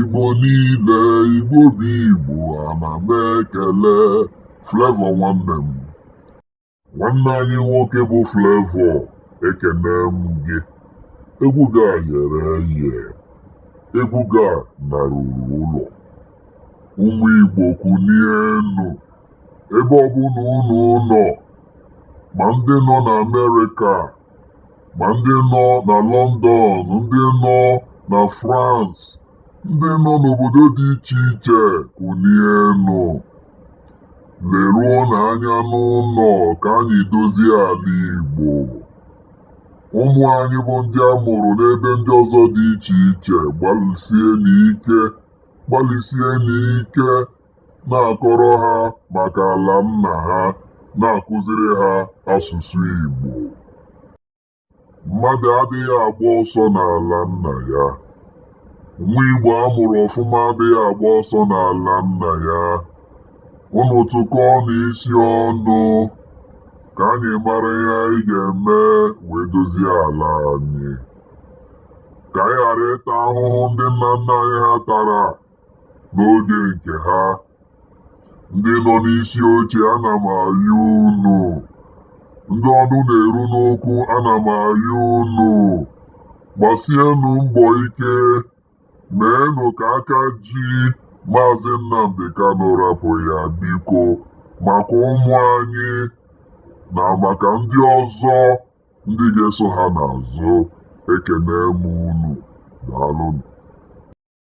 Igbo niile Igbo bụ Igbo ana m ekele Flavour nwanne m nwanne anyị nwoke bụ Flavour ekene m gị egwu gị a yere eye egwu gị a naruru ụlọ ụmụ Igbo kunienụ ebe ọbụla unu nọ ma ndị nọ n'Amerịka ma ndị nọ na London ndị nọ na France ndị nọ n'obodo dị iche iche kunienụ leruonụ anya n'ụlọ ka anyị dozie ala Igbo ụmụ anyị bụ ndị a mụrụ n'ebe ndị ọzọ dị iche iche gbalịsienụ ike gbalịsienụ ike na-akọrọ ha maka ala nna ha na-akụziri ha asụsụ Igbo mmadụ adịghị agba ọsọ n'ala nna ya nwa Igbo a mụrụ ọfụma adịghị agba ọsọ n'ala nna ya unu tụkọọnụ isi ọnụ ka anyị mara ihe anyị ga-eme wee dozie ala anyị ka anyị ghara ịta ahụhụ ndị nna nna anyị ha tara N'oge nke ha, ndị nọ n'isi oche ana m ayọ unu, ndị ọnụ na-eru n'okwu ana m ayọ unu, gbasienụ mbọ ike, meenụ ka aka ji Maazị Nnamdi Kanu rapụ ya biko maka ụmụ anyị na maka ndị ọzọ ndị ga-eso ha n'azụ. Ekene m unu. Daalụnụ.